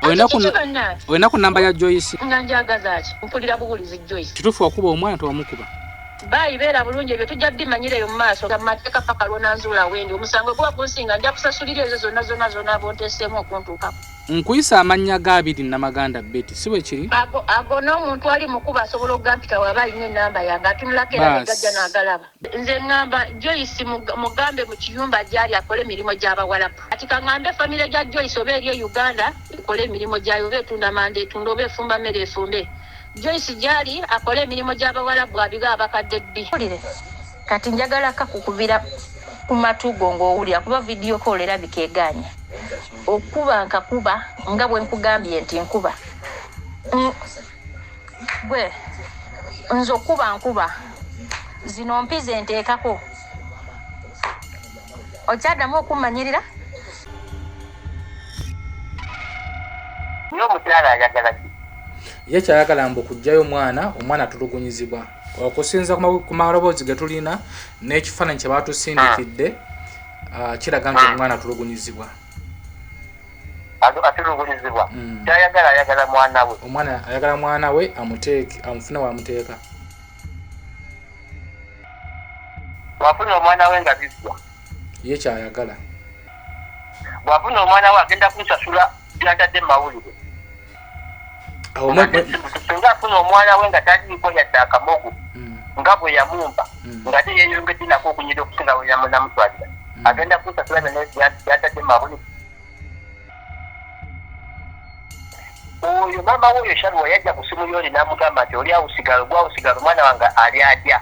olina ku namba ya joyce nga njagaza ki mpulira buwulizi joyce kitufu wakuba omwana tewamukuba bayi beera bulungi ebyo tujja bimanyira eyo mu maaso ga mateeka paka lwonanzuula wendi omusango guba gunsinga nja kusasulira ezo zonna zonna zonna bonteseemu okuntuukako nkuyisa amannya ga abiri namaganda beti si bwekiri ago n'omuntu ali mukuba asobola okugampita waba alina enamba yange atunulako era negajja nagalaba Nze ngamba Joyce mugambe mu kiyumba gyali akole emirimu gy'abawalabu. Kati kangambe famire gya Joyce oba eri e Uganda ekole emirimu gyayo oba etunda manda etunde oba efumba mmere efumbe. Joyce gyali akole emirimu gy'abawalabu abibe abakadde bbi. Kati njagala kakukubira ku matu go ng'owulira kuba vidiyo ko olerabika egaanya okuba nkakuba nga bwe nkugambye nti nkuba. gwe nze okuba nkuba zino mpi zenteekako okyaddamu okummanyirira ye kyayagala mbu kujjayo omwana omwana atulugunyizibwa okusinza ku maloboozi ge tulina n'ekifaananyi kye baatusindikidde ah. ah, kiraga nti ah. omwana atulugunyizibwa atulugunyizibwa mm. kyayagala ayagala mwana we omwana ayagala mwana we amuteeke amufuna wamuteeka bwafuna omwana we nga biggwa ye kyayagala bwafuna omwana we agenda kunsasula byatadde mu mawulire singa afuna omwana we nga taliiko yadde akamogo hmm. nga bwe yamumba hmm. nga te yeyongedde nako okunyira okusinga we yamunamutwalira hmm. agenda kusasula byatadde mabuli oyo maama woyo sharuwa yajja ku simu yoli namugamba nti oli awusigala ogwawusigala omwana wange ali adya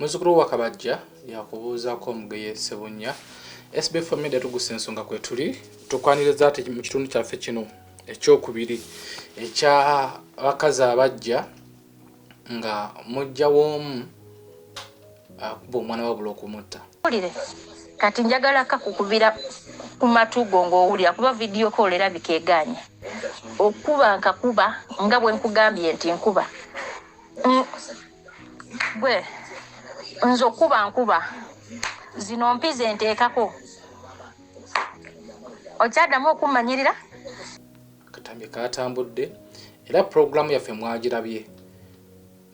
Muzzukulu wa Kabajja yakubuuzaako Mugeye Ssebunnya. SB for Media tugusa ensonga kwetuli tukwaniriza ati mu kitundu kyaffe kino ekyokubiri ekya bakazi abajja nga mujja w'omu akuba omwana wabula okumutta wulire kati njagala kakukubira ku matu go ng'owulira kuba vidiyo ko olerabika eganya okuba nkakuba nga bwe nkugambye nti nkuba mm. gwe nze okuba nkuba zino mpi zenteekako okyaddamu okummanyirira akatambi katambudde era pulogulaamu yaffe mwagirabye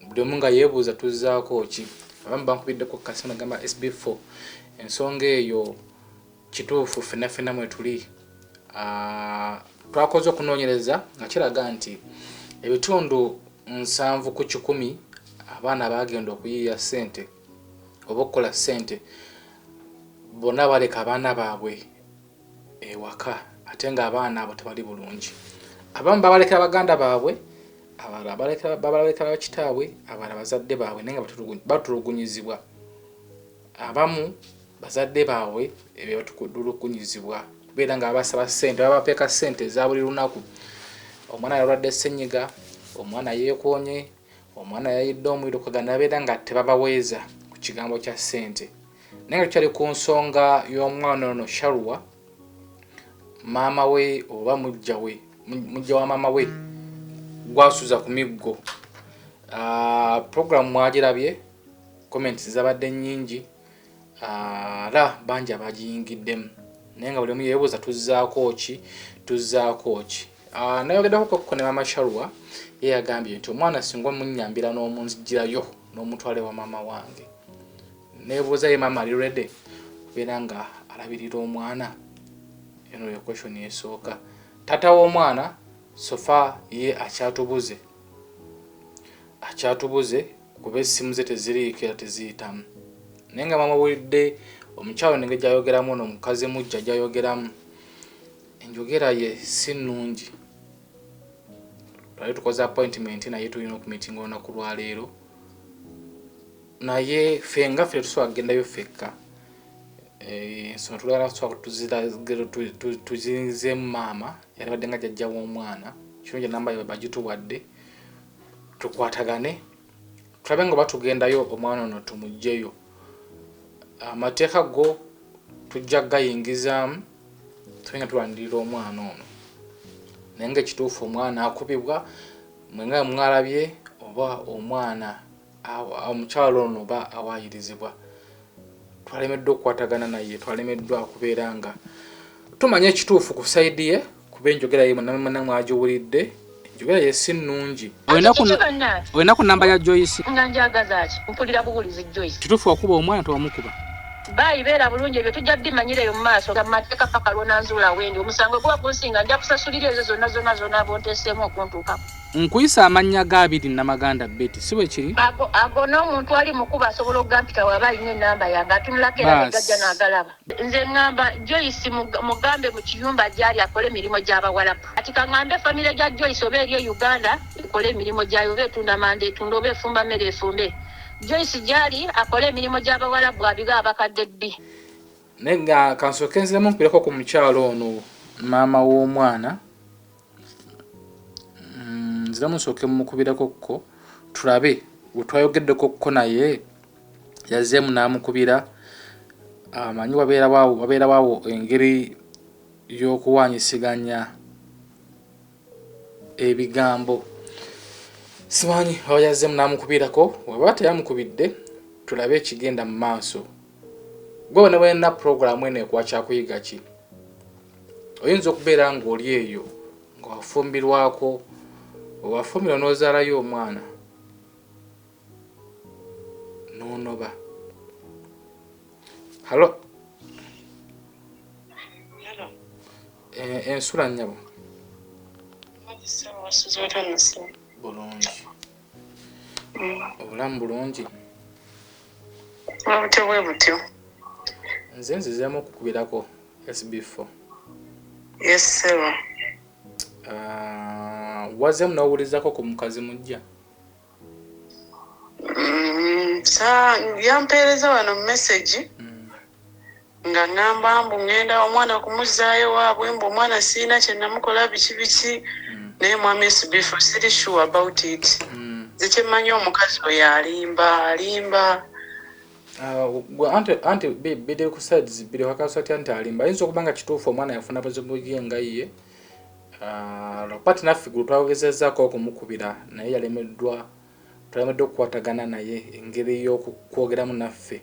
buli omu nga yeebuuza tuzzaako ki abamu bankubiddeko kasana gamba sb4 ensonga eyo Kituufu fena fena mwetuli ah, twakoze okunoonyereza nga kiraga nti ebitundu nsanvu ku kikumi abaana baagenda okuyiiya ssente oba okukola ssente bonna baleka abaana baabwe ewaka ate ng'abaana abo tebali bulungi abamu babalekera baganda baabwe abalala babalekera bakitaabwe abalala bazadde baabwe naye nga batulugunyizibwa abamu Bazadde baabwe be batukudulukunyizibwa kubeera nga babasaba ssente, babapeeka ssente eza buli lunaku. Omwana yalwadde ssennyiga, omwana yeekoonye, omwana yayidde omuliro, kwe ganabeera nga tebabaweeza ku kigambo kya ssente. Naye nga tukyali ku nsonga y'omwana ono Sharwa, maama we oba mujja we mujja wa maama we gwasuza ku miggo. Ah, Pulogulaamu mwagirabye, comments zabadde nnyingi. ara ah, bangi abagiyingiddemu naye nga buli omu yebuuza tuzzaako ki tuzzaako ki ah, nayogeddako kokko ne mama sharwa ye yagambye nti omwana singa omunyambira n'omunzijirayo n'omutwale wa mama wange nebuuza ye mama ali rede beera nga alabirira omwana eno ye question esooka tata w'omwana sofa ye akyatubuze akyatubuze kuba essimu ze teziriiko era teziyitamu naye nga bamubulidde omukyalo nenge gyayogeramu no omukazi mujja gyayogeramu enjogera ye si nnungi twali tukoze appointment naye tulina okumitinga olunaku lwaleero naye fe nga fe tetusobola kugendayo fekka eh, ensonga tulagala tusobola tuzinzemu maama yalibadde nga jajja w'omwana kino gye namba yabagituwadde tukwatagane tulabe nga batugendayo omwana ono tumugjeyo amateeka go tujja gayingizaamu tube nga tulwanirira omwana ono naye nga ekituufu omwana akubibwa mwenga mwalabye oba omwana Omukyala ono oba awaayirizibwa twalemeddwa okukwatagana naye, twalemeddwa okubeera nga tumanya ekituufu ku sayidi ye kuba enjogera ye munamana mwagiwulidde enjogera ye si nnungi. Olina ku namba ya Joyce? Nga njagaza ki? Mpulira buwulizi Joyce. Kituufu wakuba omwana tewamukuba? Baayi beera bulungi ebyo tujja bimanyira eyo mu maaso ga mateeka paka lwonanzuula wendi omusango guba gunsinga nja kusasulira ezo zonna zonna zonaaba onteeseemu okuntuukako. Nkuyisa amannya ga Abidi Namaganda Betty, si bwe kiri? Ago, ago n'omuntu ali mukuba asobola okugampita waba alina enamba yange atunulako era ne gajja n'agalaba. Nze ngamba Joyce mugambe mu kiyumba gy'ali akole emirimu gy'Abawalabu. Kati ka ngambe famire gya Joyce oba eri e Uganda ekole emirimu gyayo oba etunda manda etunda oba efumba mmere efumbe. Joyce gy'ali akole emirimu gy'Abawalabu abibe abakadde bbi. Naye nga kansooke nziremu nkuleko ku mukyala ono maama w'omwana. mm, nziramu nsooke mumukubirako ko tulabe wetwayogeddeko ko naye yazeemu n'amukubira amanyi wabeerawawo engeri y'okuwanyisiganya ebigambo simanyi oba yazeemu n'amukubirako waba teyamukubidde tulabe ekigenda mu maaso gwe wena balina pulogulaamu eno ekwakyakuyigaki oyinza okubeera ng'oli eyo nga wafumbirwako owafumbirwa n'ozaalayo omwana n'onoba halo eh, ensula nnyabo bulungi obulamu bulungi obutyo bwe butyo nze nzizeemu okukubirako sb4 yes sir uh, wazemu nowulizako ku mukazi mujja mm, yampeereza wano mumesagi mm. nga ngamba mbu ngenda omwana kumuzaayo ewaabwe mbu omwana sirina kyenamukola biki biki mm. naye mwami esbifu siri sure about it mm. nze mm. kyemmanyi omukazi oyo alimba alimba ah, anti anti biri ku sides biri wakasa ti anti alimba ayinza okuba nga kituufu omwana yafuna buzibu ye nga ye ah, lwapati naffe gulu twagezezako okumukubira naye yalemeddwa twalemeddwa okukwatagana naye engeri y'okwogeramu naffe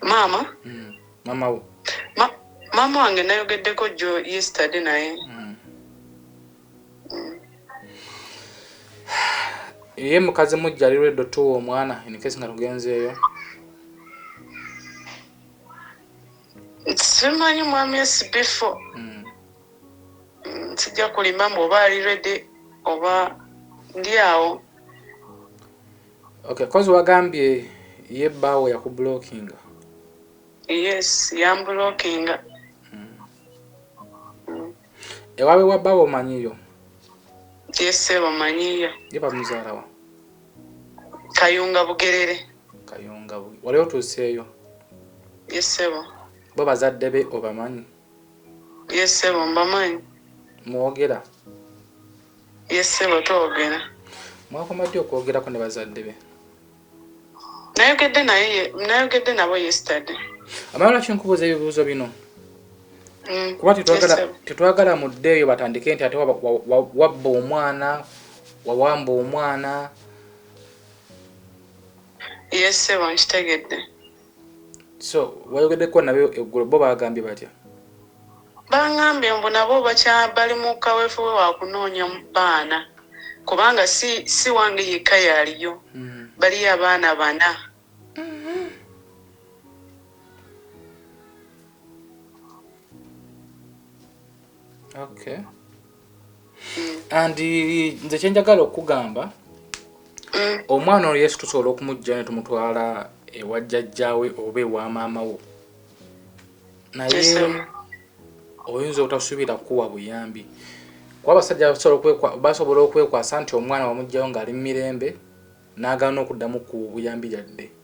maama mm. maama wo Ma, maama wange nayogeddeko jo yesterday naye mm. mm. ye mukazi mujja ali redo tuwa omwana inkesi nga tugenzeeyo simanyi mwami esibifo mm. mm, sijja kulimba mbu oba ali redi oba ndi awo Okay kozi wagambye ye baawo yakublockinga. Yes yamblockinga. Ewaabwe wa baawo omanyiyo? Ye ssebo manyiyo. Ye bamuzaala wa? Kayunga Bugerere. Kayunga Bugerere. Wali otuuseeyo? Ye ssebo. Bo bazadde be obamanyi? Ye ssebo mbamanyi. Mwogera? Yes ssebo twogera. Mwakoma ddi okwogerako ne bazadde be? Nayogedde naye nayogedde nabo yesterday. Amala lwaki nkubuuza ebibuuzo bino? Mm. Kuba tetwagala tetwagala mudde eyo batandike nti ate wabba omwana wawamba omwana. Yes ssebo nkitegedde. so wayogeddeko nabo eggulo bo baagambye batya bangambye mbu nabo bali mu kaweefube wa kunoonya baana kubanga si, si wange yekka yaaliyo mm. baliyo abaana bana mm-hmm. okay and nze kyenjagala okugamba mm. omwana oyo yesu tusobola okumujja ne tumutwala ewa jjajjaawe oba ewa maama wo naye oyinza obutasubira kuwa buyambi kuba abasajja basobola okwekwasa nti omwana wamugjawo ng'ali mumirembe n'agaana okuddamu ku buyambi yadde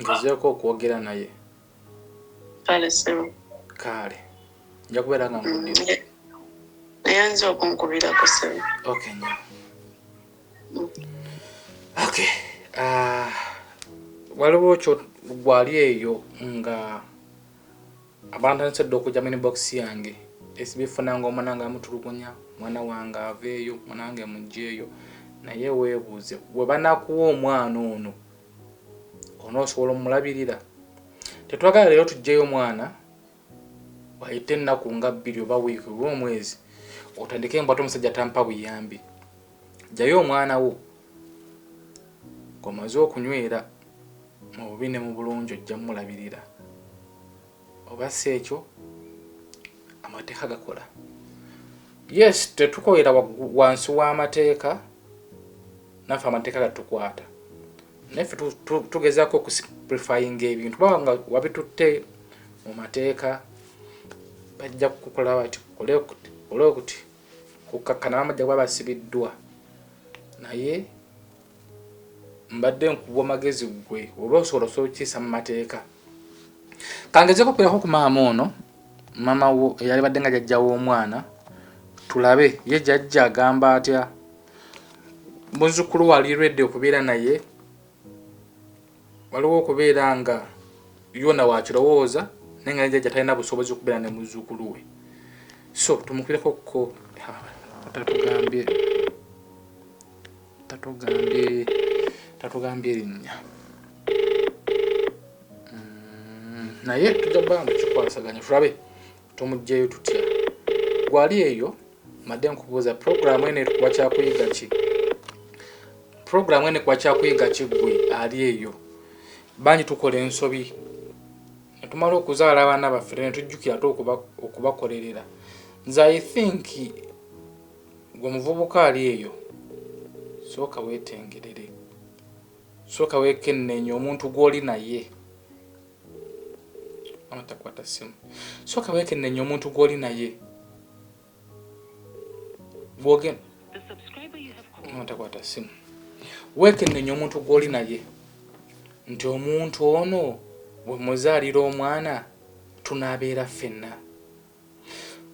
ngezeeko okwogera naye kaale nja kubeera nga nkudiayanza mm, okunkubirako sebe ok nyo mm. ok ah, waliwo kyo gwali eyo nga Abantu batandise dda okujja mu inbox yange esibifuna nga omwana nga amutulugunya mwana wange aveeyo mwana wange mugyeeyo naye weebuuze webanakuwa omwana ono onoosobola omulabirira tetwagala leero tugyeyo omwana wayite ennaku nga bbiri oba wiiki oba omwezi otandike embwate omusajja tampa buyambi Jjayo omwana wo ng'omaze okunywera mu bubi ne mu bulungi ojja mulabirira oba si ekyo amateeka gakola yes tetukolera wansi w'amateeka naffe amateeka gatukwata naffe tugezaako okusiprifayinga ebintu baba nga wabitutte mu mateeka bajja kukukola bati kole okuti kukkakkana bamujja kuba basibiddwa naye mbadde nkubwa magezi gwe oba osobola osobola okukiisa mu mateeka kangezeko okwirako ku maama ono maama wo eyali badde nga jajja w'omwana tulabe ye jajja agamba atya muzzukulu wali redi okubeera naye Waliwo okubeera nga yona wakilowooza naye nga ne jajja talina busobozi okubeera ne muzzukulu we so tumukireko ko tatugambye tatugambye tatugambye erinnya mm, naye tujja kuba nga tukikwasaganya tulabe Tumujjeyo tutya? Gwe ali eyo madde nkubuuza program eno ekuwa kyakuyiga ki? Program eno ekuwa kyakuyiga ki gwe ali eyo? Bangi tukola ensobi netumala okuzaala abaana baffe ne tujjukira ate okubakolerera. Nze I think gwe muvubuka ali eyo sooka wetengerere, sooka wekenneenye omuntu gw'oli naye. mama takwata simu soka wekenenye omuntu gwoli naye bwoge mama takwata simu wekenenye omuntu gwoli naye nti omuntu ono bwemuzaalira omwana tunabeera ffenna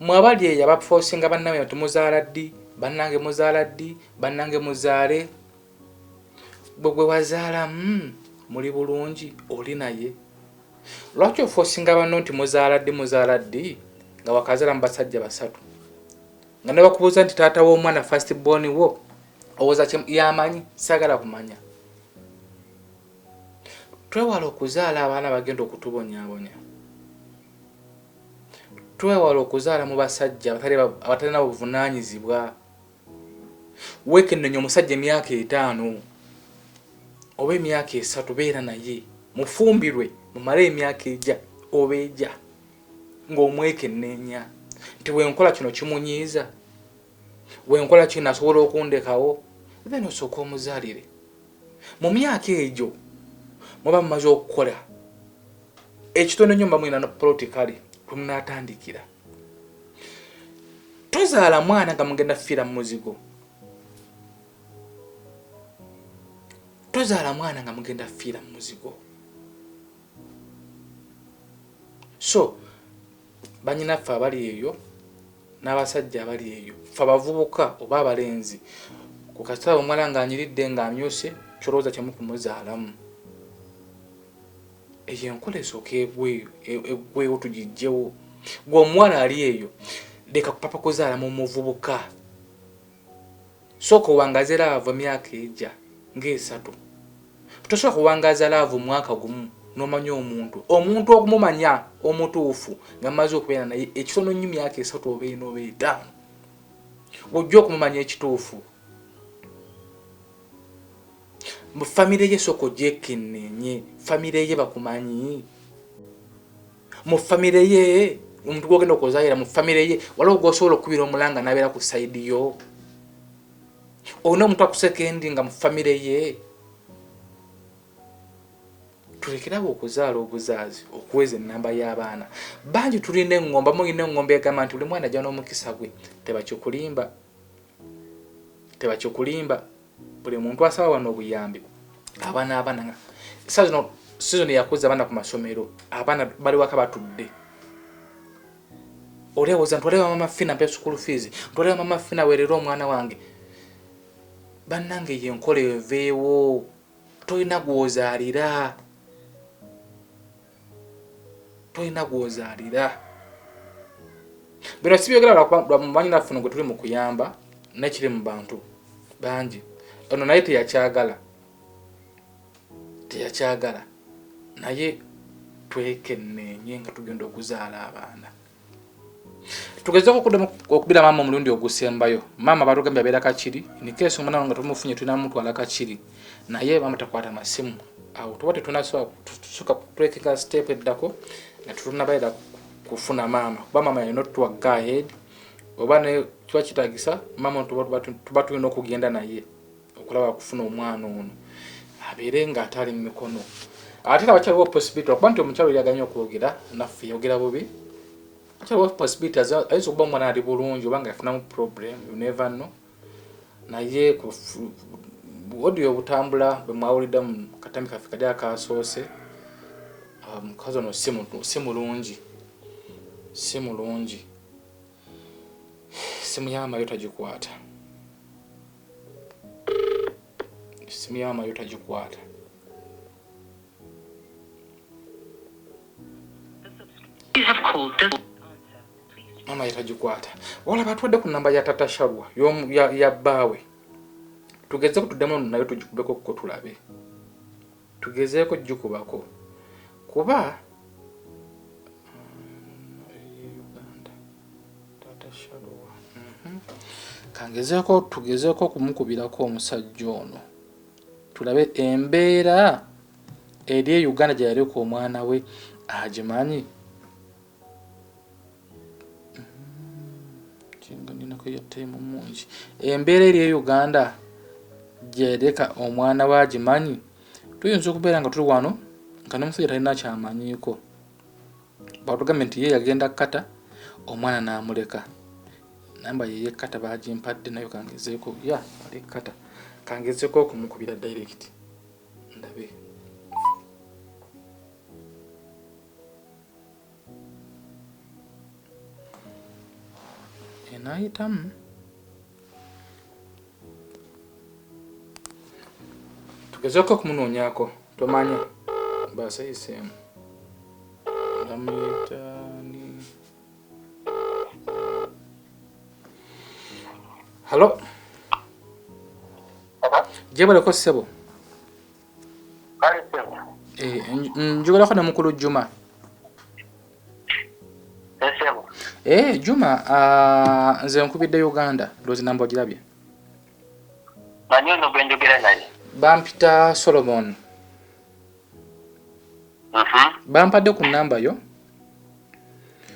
mwabali eyo abafosinga bannabwe tumuzaala ddi bannange muzaala ddi bannange muzaale gwe gwe wazaala mm, muli bulungi oli naye lwaki ofosinga banno nti muzaala ddi muzaala ddi nga wakazaala mu basajja basatu nga ne bakubuuza nti taata w'omwana fast born wo owoza yamanyi sagala kumanya twewala okuzaala abaana bagenda okutubonyabonya twewala okuzaala mu basajja abatalina buvunanyizibwa Weekennenya omusajja emyaka etaano oba emyaka esatu, beera naye mufumbirwe mumale emyaka egya oba egya ng'omwekenneenya nti wenkola kino kimunyiiza, wenkola kino asobola okundekawo, then osooka omuzaalire. Mu myaka egyo muba mumaze okukola ekitono nnyo, muba mulina poloti kale kwe munaatandikira. tozaala mwana nga mugenda kufiira mu muzigo tozaala mwana nga mugenda kufiira mu muzigo so banyinaffe abali eyo n'abasajja abali eyo fe abavubuka oba abalenzi ku kasitala omwala ng'anyiridde ng'amyuse kyolowooza kyemukumuzalamu Eyo enkola esooka eggwewo tugiggyewo. Gwe omuwala ali eyo leka kupapa kuzaala mu muvubuka. Sooka owangaze laavu emyaka egya ng'esatu. Tosobola kuwangaza laavu mwaka gumu n'omanya omuntu. Omuntu okumumanya omutuufu nga mmaze okubeera naye ekitono nnyo myaka esatu oba ena oba etaano. Ojja okumumanya ekituufu. Mbu family ye soka ojekenenye family ye bakumanyi mu family ye omuntu gwogenda okuzayira mu family ye waliwo gwosobola okukubira omulanga nabeera ku side yo olina omuntu akusekendi nga mu family ye tulekerawo okuzaala obuzaazi okuweza enamba y'abaana bangi tulina engomba mulina engomba egamba nti buli mwana ajja n'omukisa gwe tebakikulimba tebakikulimba buli muntu asaba wano obuyambi abaana abaana nga saa zino sizoni yakuza abaana ku masomero abaana bali waka batudde olyawoza ntwalewa mama fina mpe sukulu fees ntwalewa mama fina werera omwana wange bannange ye enkola eveewo tolina gwozaalira tolina gwozaalira bino sibyogera lwamumanyi naffe gwe tuli mu kuyamba nekiri mu bantu bangi ono naye teyakyagala teyakyagala naye twekenneenye nga tugenda okuzaala abaana tugezeeko okuddamu okubira maama omulundi ogusembayo maama batugambye abeera kakiri nikeesi omwana nga tumufunye tulina mutwala kakiri naye maama takwata masimu awo tuba tetunasobola tusuka kutwekeka step eddako nga tetunabaera kufuna maama kuba maama yalina otuwa gahead oba ne kiba kitagisa maama tuba tulina okugenda naye okulaba kufuna omwana ono abeere nga ate ali mu mikono ate era wakyaliwo possibility lwakuba nti omukyalo yaganye okwogera naffe yogera bubi wakyaliwo possibility ayinza okuba omwana ali bulungi oba nga yafunamu problem you never know naye odiyo obutambula bwe mwawulidde mu katambi kaffe kali akasoose ah, omukazi ono si mulungi si mulungi Simu ya Mayo tagikwata. Simu ya Mayo tagikwata. Mama yetagikwata. Wala batwadde ku namba ya Tata Sharwa yomu ya, ya bawe. Tugeze kutudemo nayo tujikubeko ko tulabe. Tugezeeko kugikubako kuba kangezeeko tugezeeko okumukubirako omusajja ono tulabe embeera eri e uganda gye yaleka omwana we agimanyi embeera eri e uganda gyereka omwana we agimanyi tuyinza okubeera nga tuli wano nga nomusajja talina kyamanyiiko batugambye nti ye yagenda kata omwana namuleka namba yeye kata bagimpadde nayo kangezeeko ya ali kata kangezeeko okumukubira direct ndabe enayitamu tugezeko okumunoonyako tomanya baasa eyiseemu ndamuyita ni halo gyebaleko ssebo Eh, njogerako ne mukulu juma eh, juma ah, nze nkubidde uganda loozi namba ogirabye bampita solomon uh-huh. bampadde ku namba yo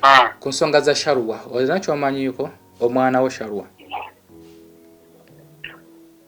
ah. ku nsonga za sharwa olina kyomanyiiko omwana wo sharwa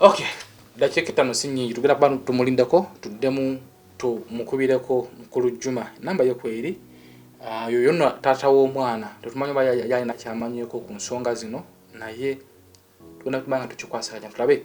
Okay. Dakiika ettano si nnyingi tugenda kuba tumulindako tuddemu tumukubireko mukulu Juma namba ye kweri ah, yo yonna taata w'omwana tetumanyi oba yalina kyamanyeko ku nsonga zino naye tugenda kuba nga tukikwasaganya tulabe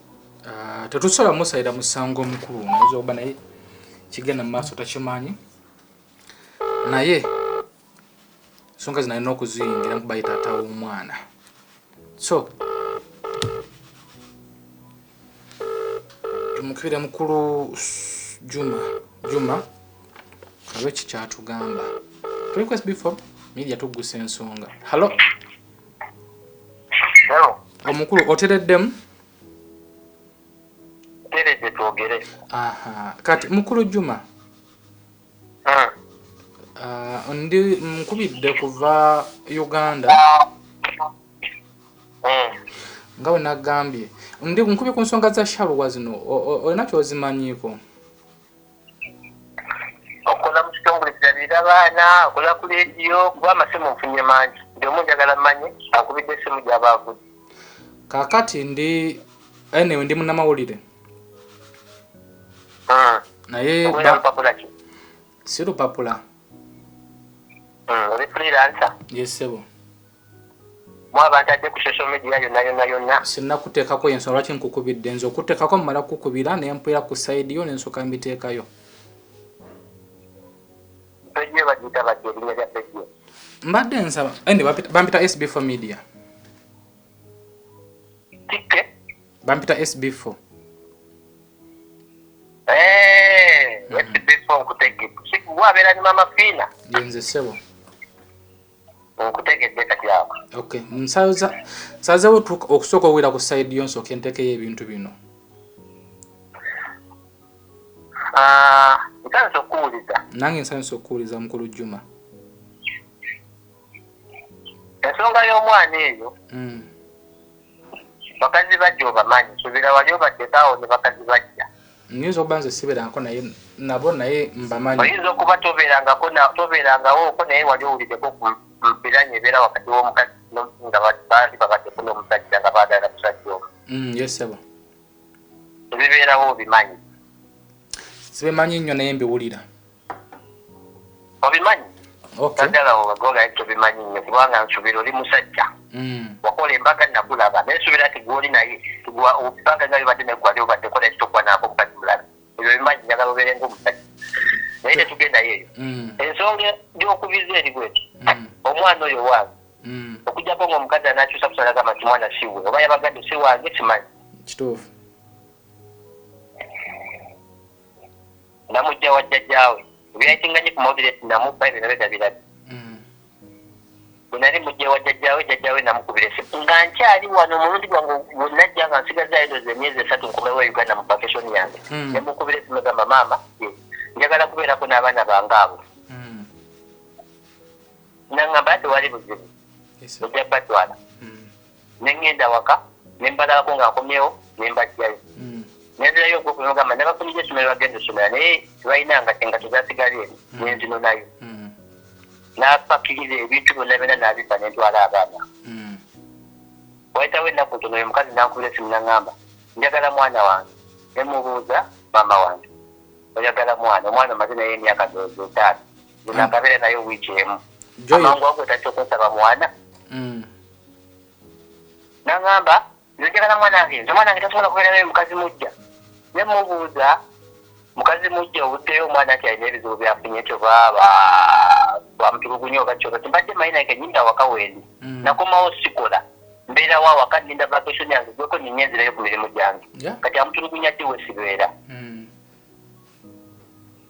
Ah, tetusobola musalira musango omukulu oyinza okuba naye kigenda mu maaso takimanyi naye ensonga zinalina okuziyingira nkuba ye taata w'omwana so tumukibira mukulu juma juma abe kikyatugamba request before media tuggusa ensonga hallo omukulu otereddemu teredde twogere kati mukulu juma hmm. ah, ndi nkubidde kuva uganda hmm. nga wenagambye ndi nkubye ku nsonga za shaluwa zino olina kyozimanyiiko okukola mu kitongole kirabirira baana okola ku lediyo kuba amasimu nfunye mangi ndi omu njagala manye akubidde esimu gyaba avudde kakati ndi enewe ndi munamawulire hmm. naye si lupapula hmm, oli freelancer yesebo mu abantu adde ku social media yonna yonna yonna sinakuteekako yensonga lwaki nkukubidde nze okuteekako mumala kukukubira ne mpulira ku sayidi yo ne nsooka mbiteekayo peji bagiyita bati erinnya lya peji mbadde nsaba ene bampita sb for media tikke bampita sb for eh, mm. sb for nkutegge wabeera ni mama fiina yenze sebo okutegedde kati ako okay nsaza nsazewo okusooka owera ku side yo nsooka entekeyo ebintu bino ah, nsanisa okuwuliza nange nsanisa okuwuliza mukulu juma ensonga y'omwana eyo hmm. bakazi bajja obamanyi subira wali obaddekaawo ne bakazi bajja Nyinza okuba nze siberanko naye nabo naye mbamanyi. Oyinza okuba toberangako na toberangawo ko naye wali owulideko ku mbiranyi ebera wakati womukazi no nga bandi babadeko nomusajja nga bagala musajja omu. Mm, yes sebo. Ebiberawo obimanyi. Sibimanyi nnyo naye mbiwulira. obimanyi naddala obagola ekyo bimanyi nnyo kubanga nsubira oli musajja mm. wakola embaga nakulaba naye subira nti gwoli naye ebbanga nga libadde negwali obadde kola ekitokuba naako omukazi mulala ebyo bimanyi njagala obeere ngaomusajja naye tetugendayo eyo mm. ensonga gyokubiza eri bweti mm. omwana oyo wange okujjako ngaomukazi anakyusa kusalagamba nti mwana siwe oba yabagadde si wange simanyi kituufu namujja wa jjajaawe ebyayitiŋŋanye ku mawulire nti namubba ebyo nabyo nabirabye mm. bwe nali mujja wa jjajaawe jjajaawe namukubira esimu nga nkyali wano omulundi gwange wenajja nga nsigaza edozi emyezi esatu nkomewo e uganda mu bakeshoni yange mm. nemukubira esimu egamba maama njagala kubeerako n'abaana bange abo mm. nangamba tewali buzibu ojja batwala ne ŋŋenda awaka ne mbalabako nga nkomyewo ne mbajjayo hmm. nenzirayo ogwo kwemugamba nabafunira essomero bagenda essomera naye tebalina nga kyenga tezasigala eri hmm. nenzino nayo hmm. napakiriza ebintu byonna byona nabiba nentwala abaana wayitawo ennaku ntono oyo mukazi nankubira esimu naŋamba njagala mwana wange nemubuuza maama wange oyagala mwana omwana omaze naye emyaka etaano nakabeera naye wiiki emu amangu ago otatya okunsaba mwana nangamba nzijagala mwanange nze mwanange tasobola kubeera naye mukazi mujja ne mubuuza mukazi mujja obuddeyo omwana nti alina ebizibu byafunye kyoba bamutulugunya oba kyoba timbadde manyi naye kenyinda awaka wendi mm. nakomawo sikola mbeerawo awaka ninda vacation yange gweko ninye enzirayo ku mirimu gyange kati amutulugunya ddi wesibeera mm.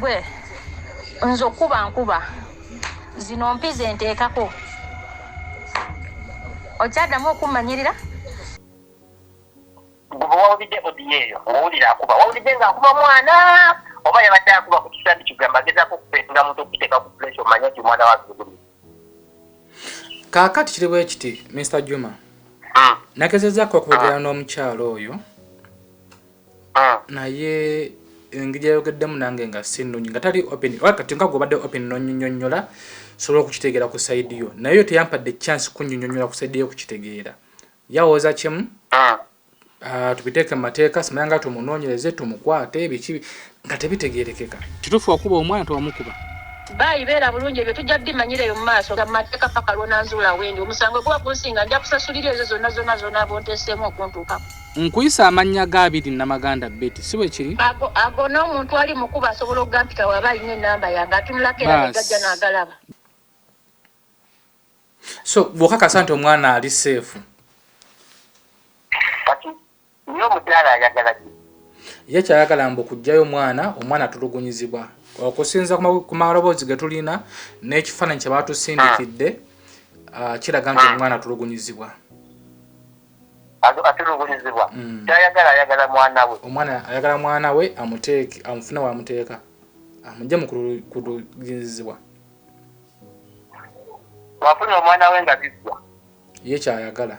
gwe nze okuba nkuba zino mpize nteekako okyaddamu okummanyirira guba wawulidde odiyo eyo ng'owulira akuba wawulidde ng'akuba mwana oba yabadde akuba ku kisandi kigamba agezaako okupeetinga muntu okukiteeka ku pulesi omanya nti omwana wazuguli kaakati kiri bwe kiti mr juma hmm. nagezezzaako okwogera ah. n'omukyalo oyo ah. naye engeri yayogeddemu nange nga sinunyi nga tali open kati nga gwobadde open nonyonyonyola sobola okukitegeera ku saidi yo naye yo teyampadde chance kunyonyonyola ku saidi yo okukitegeera yawooza kimu ah. Ah, tubiteeke mu mateeka simanya nga tumunoonyereze tumukwate biki nga tebitegerekeka. Kitufu wakuba omwana tewamukuba. Baayi beera bulungi ebyo tujja bimanyira eyo mumaaso mumateeka paka lwonanzuula wendi omusango guba gunsinga nja kusasulira ezo zonna zonna zonna bonteseemu okuntuukako. Nkuyise amannya ga abiri namaganda Betty si bwekiri? Ago ago n'omuntu ali mukubo asobola okugampita waba alina enamba yange atunulako era negajja nagalaba. So bwokakasa nti omwana ali seefu. Naye omukyala ayagala ki? Ye ky'ayagala mbu kuggyayo mwana, omwana atulugunyizibwa. Okusinziira ku maloboozi ge tulina n'ekifaananyi kye baatusindikidde ah, kiraga nti hmm. omwana atulugunyizibwa. Atulugunyizibwa? Hmm. Ky'ayagala ayagala mwana we. Omwana ayagala mwana we amuteeke, amufune w'amuteeka, amugye mu kulugunyizibwa. Bw'afuna omwana we nga biggwa. Ye ky'ayagala.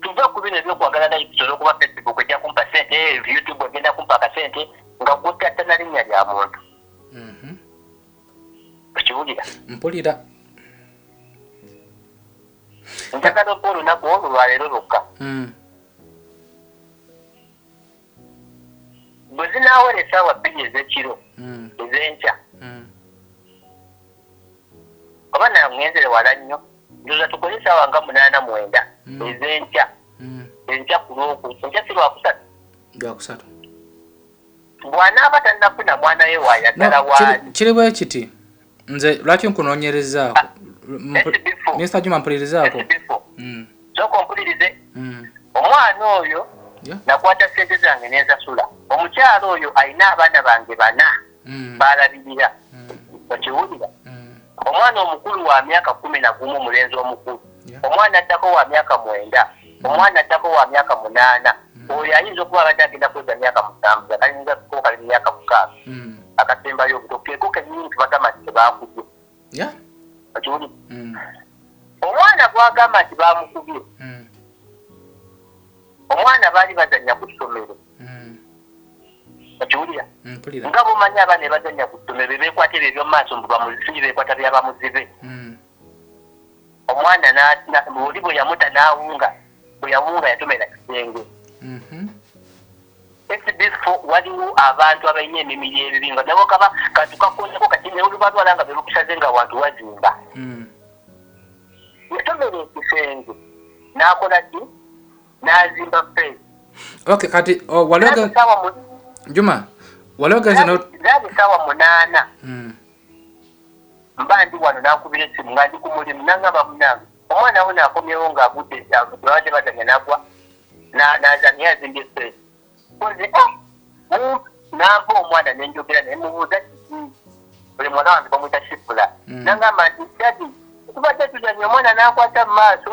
tuve ku bino ebyokwagala likes olwokuba facebook ejja kumpa sente eh, youtube egenda kumpa akasente nga gutatta na linnya lya muntu mhm. okiwulira mpulira njagala oba olunaku olwo lwaleero lwokka mm. bwe zinaawera essaawa bbiri ez'ekiro ez'enkya oba naye ngenzere wala nnyo ndoza tukole essaawa nga munaana mwenda ez'enkya enkya ku lwoku enkya si lwakusatu lwakusatu bw'anaaba tannafuna mwana we waayagala waali kiri bwe kiti nze lwaki nkunonyerezaako mr juma mpulirizaako mm. soka ompulirize mm. omwana oyo nakwata sente zange nensasula omukyalo oyo alina abaana bange bana mm. balabirira okiwulira omwana omukulu wa myaka kumi nagumu omulenzi omukulu omwana addako wa myaka mwenda omwana addako wa myaka munaana oyo ayinza okuba abadde agenda kuweza myaka musanvu akalinza kukali myaka mukaaga akasembayo obuto keeko kenyini nti bagamba nti tebakubye okiwuli omwana gwagamba nti bamukubye omwana baali bazanya ku ssomero okiwulira nga bomanyi abaana ebazanya ku ssomero bebekwata ebyo ebyomumaaso mbu bamuzisinyi bekwata byabamuzibe omwana n'atina oli bwe yamuta n'awunga bwe yawunga yatomera kisenge mhm. ekibifo waliwo abantu abalina emimiri ebibi nga nabo kaba kantu kakonako kati neolubalwala nga belukusaze nga wantu wazimba mm. yatomera ekisenge n'akola ki n'azimba fe ok kati oh, waliwo juma waliwo genze no... zaali saawa munaana mm. Mba ndi wano n'ankubira essimu nga ndi ku mulimu n'ang'amba, Munnange, omwana wuuno akomyewo ng'agudde agudde. Babadde bazannya n'agwa na, n'aza, naye azimbye ffeesi. Mpozi, oh, mumpi. N'ampa omwana ne njogera naye, mmubuuza kiki. Oyo muwala wange bamuyita Shifra. N'ang'amba nti, Daddy, tubadde tuzannya omwana n'ankwata mu maaso.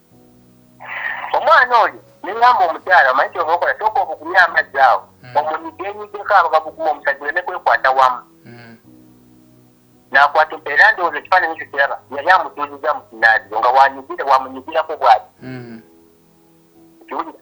omwana oyo nengamba omukyala omanyi kyova okola sooka obukumye amazzi awo hmm. omunyigenyiddeko abagagukuma omusajja oleme kwekwata wamu hmm. nakwata era ndowooza ekifaananyi ekyo kiraba yali amutuuziza mu kinaaziro nga wanyigire wamunyigirako bwati hmm. kiwulira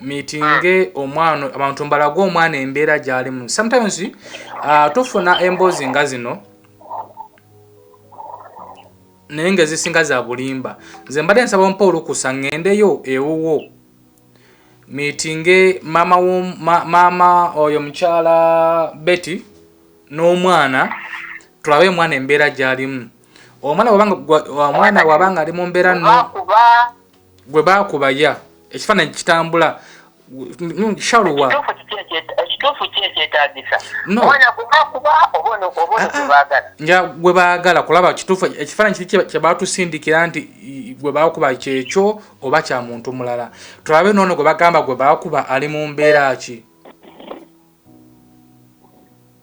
mitinge omwana abantu mbalage omwana embeera gyalimu sometimes uh, tufuna emboozi nga zino naye nga ezisinga za bulimba nze mbadde nsaba mpa olukusa ŋŋendeyo ewuwo mitinge maama ma, maama oyo mukyala betty n'omwana tulabe omwana embeera gyalimu omwana wabanga omwana wabanga ali mu mbeera no gwe baakuba ya ekifaananyi kitambula shaluwa ekituufu ki ekyetagisa omwana gwebakuba oba ono gwebaagala nja gwe baagala kulaba kituufu ekifaananyi kiri kyebatusindikira nti gwe baakuba kyekyo oba kya muntu mulala tulabe noono gwe bagamba gwe baakuba ali mu mbeera ki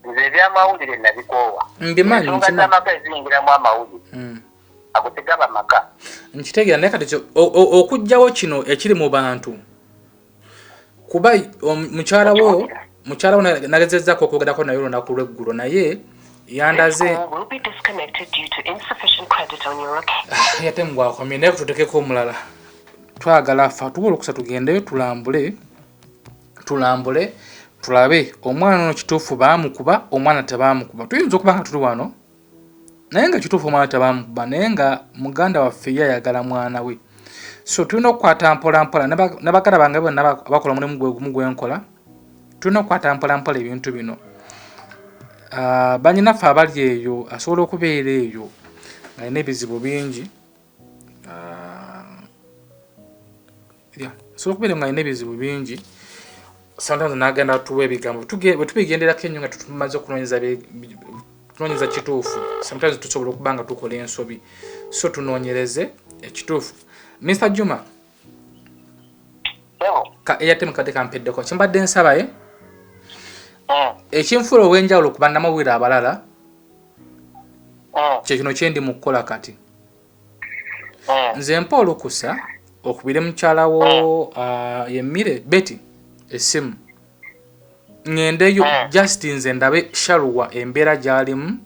nze ebyamawulire nabikoowa mbimanyi nsonga zamaka eziyingiramu amawulire hmm. ago tegaba maka nkitegera naye kati okujjawo kino ekiri mu bantu kuba mukyala wo mukyala wo nagezezako okwogerako naye olunaku lweggulo naye yandaze ah, ate mugwakomye naye kututekeko omulala twagala fa tuba olukusa tugendeyo tulambule tulambule tulabe omwana ono kituufu baamukuba omwana tebaamukuba tuyinza okuba nga tuli wano naye nga kituufu omwana tebamukuba naye nga muganda waffe ye ayagala mwana we so tulina okukwata mpolampola ne bagala bange bonna bakola omulimu gwe gumu gwe nkola tulina okukwata mpolampola ebintu bino ah, banyinaffe abali eyo asobola okubeera eyo alina ebizibu bingi ah, yeah. so okubeera nga alina ebizibu bingi sometimes nagenda tuwa ebigambo bwetubigenderako enyo nga tumaze okunonyeza kituufu sometimes tusobola okuba nga tukola ensobi so tunonyereze ekituufu mr juma ka airtime kadde kampeddeko kyembadde nsabaye eh? mm. ekinfuula ow'enjawulo ku bannamawulire abalala mm. kyekino kyendi mu kukola kati mm. nze mpa olukusa okubire mukyalawo ah, yemmire beti essimu ŋendeyo just nze ndabe shaluwa embeera gyalimu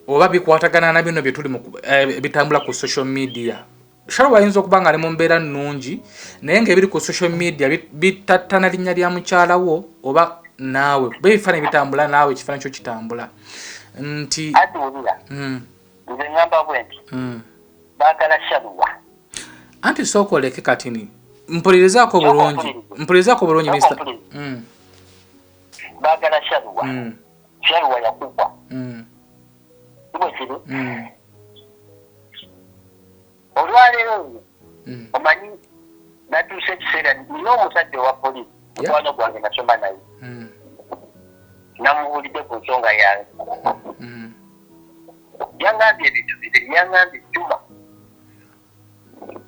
oba bikwatagana na bino byetuli eh, bitambula ku social media Sharoba ayinza okuba nga ali mu mbeera nnungi naye ng'ebiri ku social media bitattana linnya lya mukyala wo oba naawe kuba ebifaananyi bitambula naawe ekifaananyi kyo kitambula nti atuwulira hmm. nze ngamba bwe nti hmm. baagala sharuwa anti sooka oleke katini mpulirizako bulungi mpulirizako bulungi mista hmm. baagala sharuwa kyayiwa yakugwa mm. sibwekiri mm. olwaleero nyo mm. omanyi natuusa ekiseera nina omusajja owa polisi mukwano gwange nasoma naye namubuulidde ku nsonga yange yangambye ebintu bibiri yangambye juma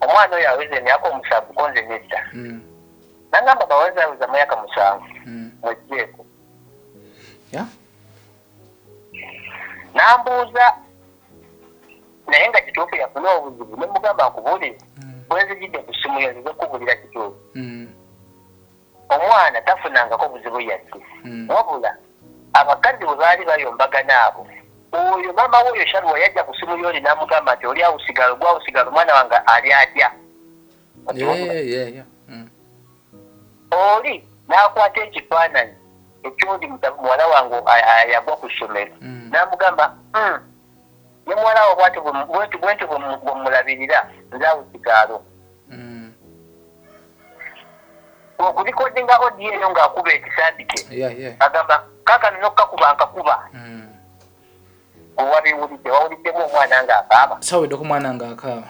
omwana oyo aweza emyaka omusanvu konze nedda nangamba bawazaaweza muyaka musanvu mwejjeeko nambuuza naye nga kituufu yafuna obuzibu nemugamba nkubuulire hmm. bwenzijidde ku ssimu yo nzize kukubulira kituufu hmm. omwana tafunangako buzibu yadde hmm. wabula abakazi bwe baali bayombagana abo oyo maama we oyo shaluwa yajja ku ssimu yoli namugamba nti oli awusigalo gwawusigalo omwana wange ali atya Oli n'akwata ekifaananyi eky'ondi muta, muwala wange ayagwa ku ssomero, n'amugamba, Uhm, ne muwala wo bw'atyo bwe, bw'entyo, bw'entyo bwe, bwe mmulabirira, nze awo kigaalo. Okulikodinga audio eyo nga akuba ekisandike, agamba, Kaakano n'okukakuba nkakuba. Ggwe wabiwulidde? Wawuliddemu omwana nga akaaba? Ssaawuliddeko mwana nga akaaba.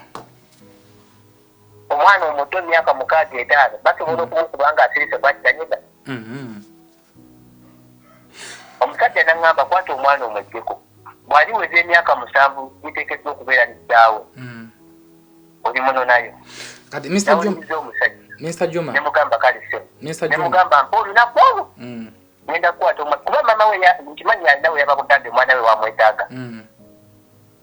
omwana omuto emyaka mukaaga etaano basobola mm. okumukuba nga asirise bwakitanyiga mm-hmm. omusajja naŋŋamba kwata omwana omwejjeko bwali weza emyaka musanvu giteekeddwa okubeera nekitaawo mm. oli muno nayo kati mr jom omusajja Mr. Juma. Nemugamba kali sio. Mr. Juma. Nemugamba mpoli na kwangu. Mm. Nenda kuwa tuma. Kuba mama we ya, mchimanyi ya ndawe ya bakutande mwana we wa mwetaga. Mm.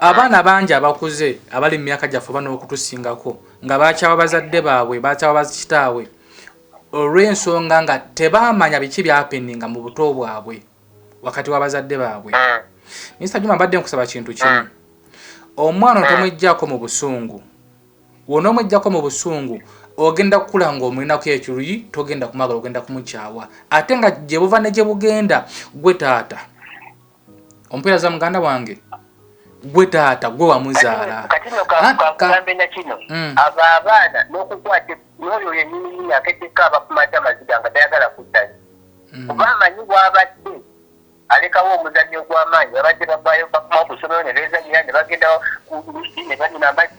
abaana bangi abakuze abali mu myaka gyaffe oba n'okutusingako nga bakyawa bazadde baabwe bakyawa bakitaabwe olw'ensonga nga tebaamanya biki byapeninga mu buto bwabwe wakati w'abazadde baabwe ah. minisita juma mbadde nkusaba kintu kimu ah. omwana otomwejjako mu busungu wona omwejjako mu busungu ogenda kukula ng'omulinako ekiruyi togenda kumagala ogenda kumukyawa ate nga gye buva ne gye bugenda gwe taata ompera za muganda wange gwe taata gwe wamuzaala kati no kakugambe na kino mm. abo abaana n'okukwata n'oyo yenyininyi akeddeko abakumaze amaziga nga tayagala kuddayo mm. kuba amanyi bwabadde alekawo omuzanyi ogw'amaanyi babadde bavaayo bakumawo ku ssomero ne beezanyira ne bagenda ku lusi ne banyina amazzi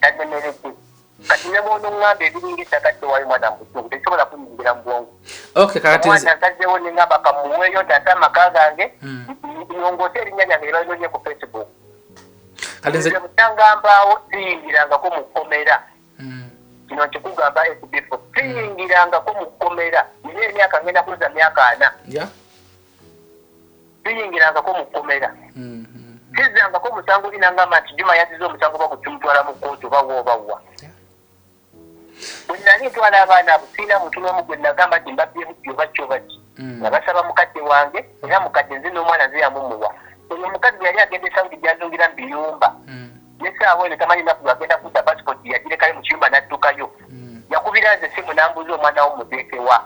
tannemeredde kati ne bwonoŋŋamba ebiringa ettaka tewaayo mwana mubusungu tekisobola kunyingira mu bwongo omwana nsazeewo ne ŋŋamba kamuweeyo ntaase amaka gange mm. nongoose erinnya lyange lye balinonye ku facebook nze mutangambaawo siyingirangako mu kkomera mm. kino nkikugamba ekibifo siyingirangako mu kkomera nina emyaka ngenda kuza myaka ana siyingirangako mu kkomera sizzangako mm-hmm. musango oli nangamba nti juma yaziza omusango oba kucumutwala mu kkooti oba wa oba wa bwe nali ntwala abaana abo sirina muntu n'omu gwe nagamba nti mbabyemu ki oba ki oba ki mm. nga basaba mukadde wange era mukadde nze n'omwana nze yamumuwa oyo omukazi bwe yali agenda esaudi gyazungira mu biyumba mm. nesaawa eno tamanyi naku agenda kudda pasipoti yagirekayo mu kiyumba n'addukayo mm. yakubira nze simu nambuuza omwana wo mudeekewa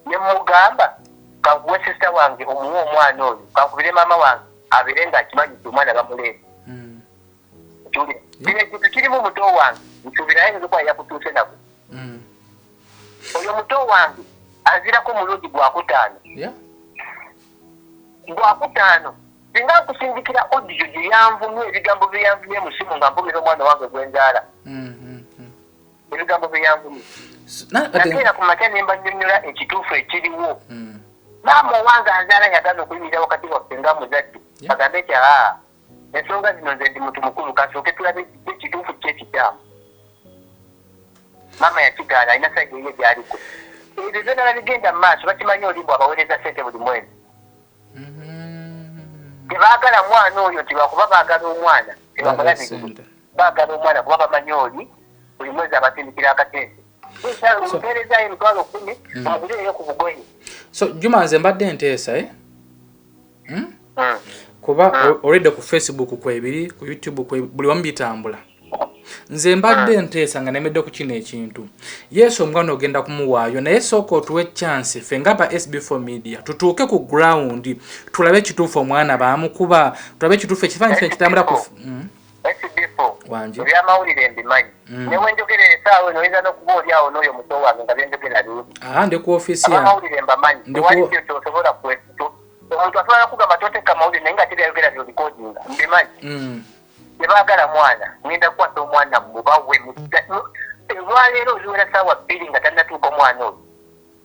ne mmugamba kankuwe sister wange omuwe omwana oyo kankubire maama wange abeere nga akimanyi nti omwana bamuleeta kino ekintu kirimu muto wange nsuubira ayinza okuba yakutuuse nako mm. oyo muto wange azirako omulundi gwakutaano gwakutaano singa nkusindikira odiyo gye yanvumye ebigambo bye yanvumye musimu nga nvumira omwana wange gwenzaala mm-hmm. ebigambo bye yanvumye nakeera ku makya ne mbanyonyola ekituufu ekiriwo hmm. maama owange anzaala yagaana okuyimirira wakati waffe nga muzadde agambe nti aa ensonga zino nze ndi muntu mukulu kasooke tulabe ekituufu kyekikyamu maama yakigaana alina saidi eye gyaliko ebyo byona babigenda mu maaso bakimanyi olimbu abaweereza sente buli mwezi mm-hmm. tebaagala mwana oyo nti lwakuba baagala omwana tebamulabirire bagala omwana kuba bamanyi oli buli mwezi abatindikira akatende mpeerezayo emitwalo kumi mm. oguleeyo ku bugoye so juma nze mbadde nteesa e eh? hmm? mm. kuba mm. olidde ku facebook kwebiri ku youtube buli wamu bitambula nze mbadde ah. nteesa nga nemedde ku kino ekintu yesu omwana ogenda kumuwaayo naye sooka otuwa ekyansi ffe nga ba sb4 media tutuuke ku ground tulabe ekituufu omwana baamukuba tulabe ekituufu ekifaanyi kife kitambula ku hmm? esibifu mu byamawulire mbimanyi mm. ne wenjogera esaawa eno oyinza n'okuba oli awo n'oyo muto wange nga byenjogera biabamawulire mbamanyi ewaliyo kyosobola kwetu omuntu asobola kugamba toteka mawulire naye nga tebyayogera byolikodinga mbimanyi mm. tebagala mwana ngenda kukwasa omwana mubawe olwaleero oliwera saawa bbiri nga tannatuuka omwana oyo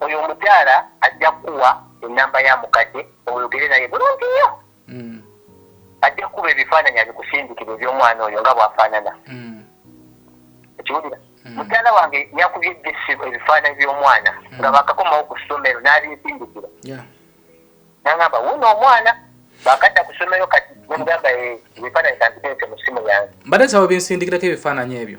Oyo omukyala ajja kukuwa ennamba ya mukadde oyogere naye bulungi nnyo. Mm. Ajja kukuba ebifaananyi abikusindikire eby'omwana oyo nga bw'afaanana. Mm. Okiwulira? Mm. Mukyala wange yakubye ejjesi ebifaananyi by'omwana nga baakakomawo ku ssomero n'abinsindikira. N'aŋamba wuuno omwana baakadda ku ssomero kati nemugamba eh, ebifaananyi kambiteeke mu ssimu yange. Mbadde nsaba obinsindikirako ebifaananyi ebyo.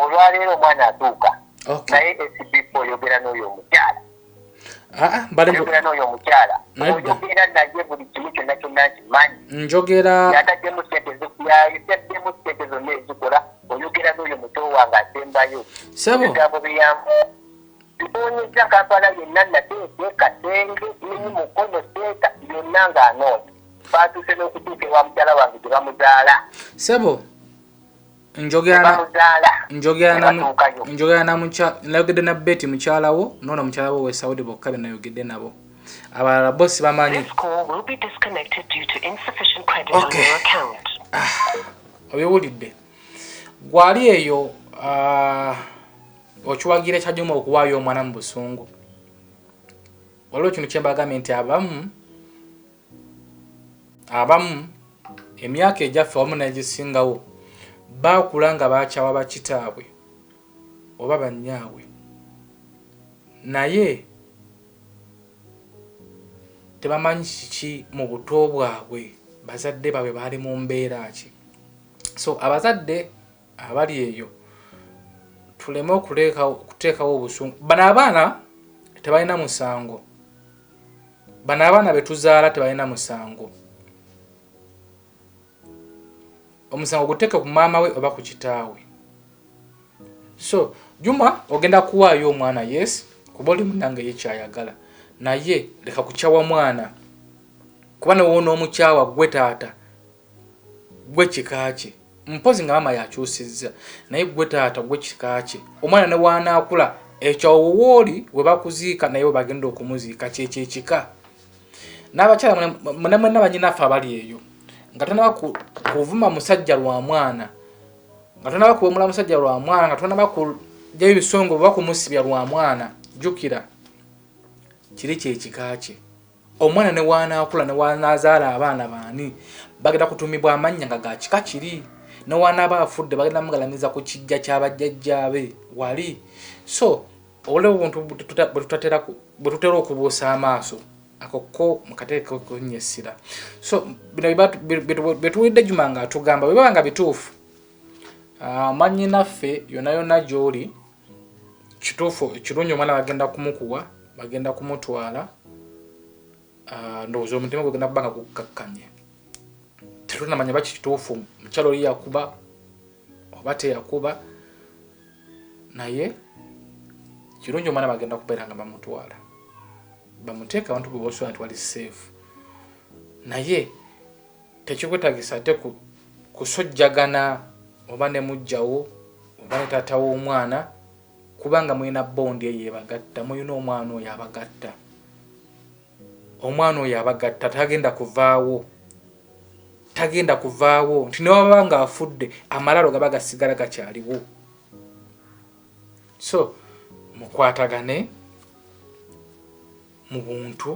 olwaleero omwana atuuka naye sbp oyogera n'oyo omukyala ah, ah, oyogera n'oyo omukyala oyogera naye buli kimu kyonna kyonna nkimanyi njogera yataddemu sente yataddemu sente zonna ezikola oyogera n'oyo muto wange asembayo ebigambo biyamu bibonyeza kampala yenna nate eteeka senge nini mukono seeta yonna ng'anoonya baatuuse n'okutuuka ewa mukyala wange gye bamuzaala sebo njogera nayogedde na beti mukyalawo noona mukyala wo wesaudi bokka benayogedde nabo abalala bo sibamanyi ah, obiwulidde gwali eyo ah, okiwagira ekyajuma okuwaayo omwana mu busungu waliwo ekintu kyembagambye nti abamu Abamu emyaka egyaffe wamu n'egisingawo baakula nga bakyawa bakitaabwe oba bannyaabwe, naye tebamanyi kiki mu buto bwabwe bazadde baabwe baali mu mbeera ki. So abazadde. abali eyo tuleme okuteekawo obusungu. Bano abaana tebalina musango, bano abaana betuzaala tebalina musango. Omusango guteeke ku maama we oba ku kitaawe. So Juma ogenda kuwaayo omwana yes, kuba oli munange ye kyayagala, naye leka kukyawa mwana kuba newona omukyawa gwe taata. gwe kika kye mpozi nga mama yakyusizza naye gwe taata gwe kika kye omwana ne wanaakula ekyo awo wooli we bakuziika naye we bagenda okumuziika kyekyo ekika n'abakyala mune mwenna banyinaffe abali eyo nga tonaba kuvuma musajja lwa mwana nga tonaba kuwemula musajja lwa mwana nga tonaba kujjayo ebisongo oba kumusibya lwa mwana jjukira kiri kyekika kye Omwana ne w'anaakula ne w'anaazaala abaana baani bagenda kutuumibwa amannya nga ga kika kiri. Ne w'anaaba afudde bagenda mugalamiza ku kiggya kya bajjajjaabe wali. So obulabe obuntu bwe tutera okubuusa amaaso ako ko mukateeke okunya essira. So bino bye tuwulidde Juma ng'atugamba bwe biba nga bituufu, ah, mwannyinaffe yonna yonna gy'oli, kituufu ekirungi omwana bagenda kumukuwa bagenda kumutwala ah, ndowooza omutima gwegenda kuba nga gukkakkanye tetunamanya baki kituufu mukyalo oli yakuba oba teyakuba naye kirungi omwana bagenda kubeera nga bamutwala bamuteeka abantu bwebosona nti wali safe naye Tekikwetagisa ate ku kusojjagana oba ne mujjawo oba ne taata w'omwana kubanga mulina bond eyo ebagatta mulina omwana oyo abagatta omwana oyo abagatta tagenda kuvaawo tagenda kuvaawo nti newaba nga afudde amalaalo gaba gasigala gakyaliwo so mukwatagane mu buntu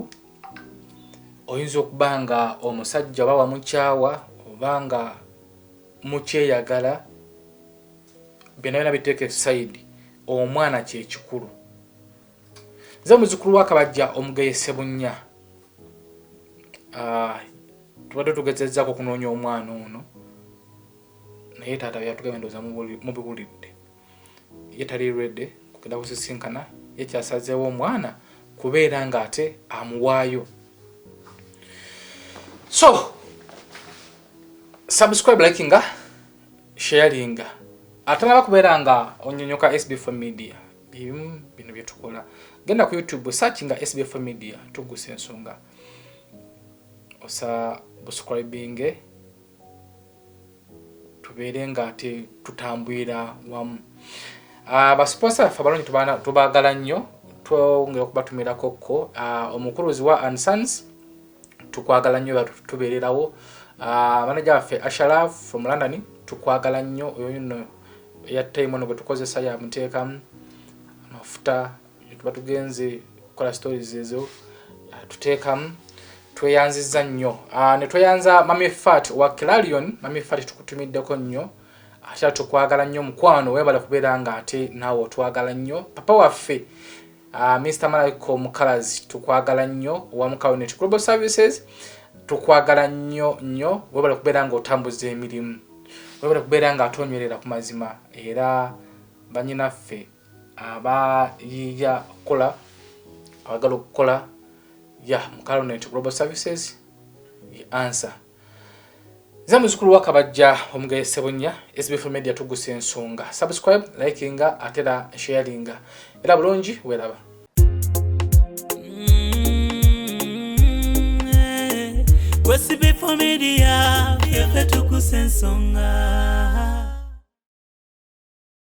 oyinza okuba nga omusajja oba wamukyawa oba nga mukyeyagala byonna byona biteeka esaidi omwana kyekikulu nze muzukulu wakabajja omugeye sebunya ah, tubadde tugezezako okunoonya omwana ono naye taata byatugambye ndoza mubiwulidde ye tali ready kugenda kusisinkana ye kyasazeewo omwana kubeera nga ate amuwaayo so subscribe like nga sharinga ate naba kubeera nga onyonyoka sbf media bimu bino byetukola genda ku youtube search nga sbf media tugusa ensonga osa buscribinge tubeere nga ate tutambulira wamu ah, basiposa baffe abalungi tubaagala nnyo twongera okubatumirako kko ah, omukuluzi wa ansons tukwagala nnyo batubeererawo ah, manaja waffe ashalaf from london tukwagala nnyo oyo no eyattayimono bwe tukozesa yamuteekamu amafuta tuba tugenze kukola stories ezo ah, tuteekamu tweyanziza nnyo ah, ne tweyanza mami fat wa clarion mami fat tukutumiddeko nnyo ate tukwagala nnyo mukwano webale kubeera nga ate naawe otwagala nnyo papa waffe uh, ah, mr malaiko mukalazi tukwagala nnyo owa mukaonet global services tukwagala nnyo nnyo webale kubeera nga otambuza emirimu webale kubeera nga atonywerera ku mazima era banyinaffe abayiiya okukola abagala okukola ya mukalonent global services ye ansa nze muzukulu wakabajja omugaye sebunya sbf media tugusa ensonga subscribe likinga atera sharinga era bulungi welaba Media, yeah,